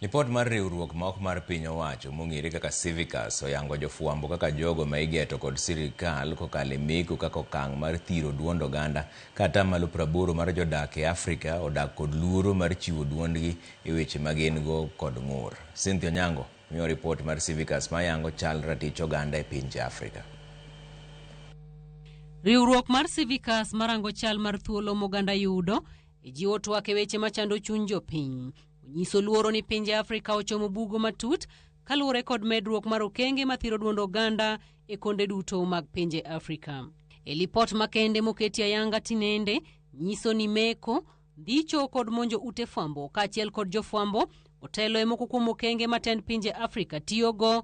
Lipot mar riwruok ma ok mar piny owacho mong'ere kaka Civicus oyango jofwambo kaka jogo ma igeto kod sirikal kokalo e meko kaka okang' mar thiro duond oganda ka atamalo praboro mar jodak e Afrika odak kod luoro mar chiwo duondgi e weche ma gin go kod ng'ur. Cynthia Onyango miyowa ripot mar Civicus ma yango chal ratich oganda e pinje Afrika. Riwruok mar Civicus marango chal mar thuolo moganda yudo E jiwo twak e weche machando chuny jopiny. Onyiso luoro ni pinje Afrika ochomo bugo matut kaluwore kod medruok mar okenge mathiro duond oganda e konde duto mag pinje Afrika. E lipot makende moketi ayanga tinende nyiso ni meko, ndicho kod monjo ute fwambo kaachiel kod jofwambo otelo e moko kuom okenge matend pinje Afrika tiyogo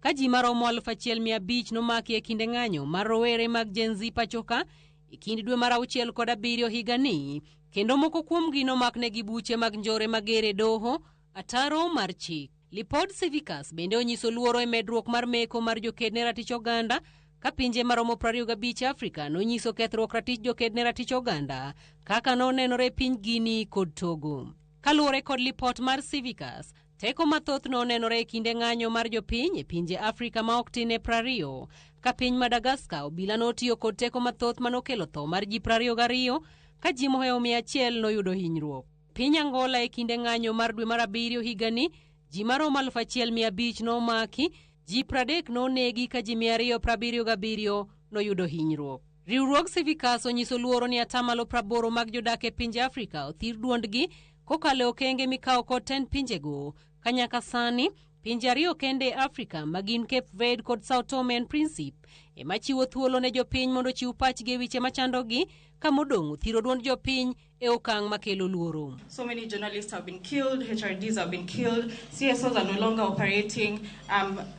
Ka ji maromo aluf achiel mia abich nomaki e kinde ng'anyo mar rowere mag Gen Z pachoka e kind dwe mar auchiel kod abiriyo higani, kendo moko kuomgi nomaknegi buche mag njore mager e doho, ataro mar chik. Lipod Civicus bende onyiso luoro e medruok mar meko mar joked ne ratich oganda ka pinje maromo 25 e Afrika nonyiso kethruok ratich joked ne ratich oganda kaka nonenore e piny Guinea kod Togo. Kaluwore kod lipot mar Civicus, Teko mathoth no onenore e kinde ng'anyo mar jopiny e pinje Afrika ma ok tin e prariyo. Ka piny Madagaska, obila notiyo kod teko mathoth manokelo tho mar ji prariyo gariyo, ka ji mohewo mia achiel noyudo hinyruok. Piny Angola e kinde ng'anyo mar dwe mar abiriyo higani, ji maromo aluf achiel mia abich nomaki, ji pradek nonegi ka ji mia ariyo prabiriyo gabiriyo noyudo hinyruok. Riwruog Civicus onyiso luoro ni atamalo praboro mag jodak e pinje Afrika othir duondgi Kokalo e okenge mikawo kod tend pinjego, ka nyaka sani pinje ariyo kende e Afrika ma gin Cape Verde kod Sao Tome and Principe ema chiwo thuolo ne jopiny mondo ochiw pachgi e weche machandogi ka modong' othiro duond jopiny e okang' makelo luoro. So many journalists have been killed, HRDs have been killed, CSOs are no longer operating. Um,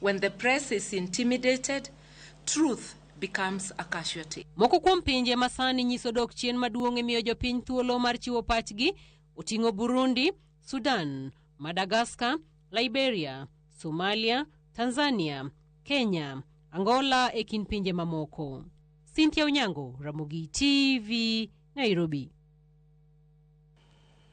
When the press is intimidated, truth becomes a casualty. Moko kuom pinje ma sani nyiso dok chien maduong' e miyo jopiny thuolo mar chiwo pachgi oting'o Burundi, Sudan, Madagascar, Liberia, Somalia, Tanzania, Kenya, Angola e kind pinje mamoko. Cynthia Onyango, Ramogi TV, Nairobi.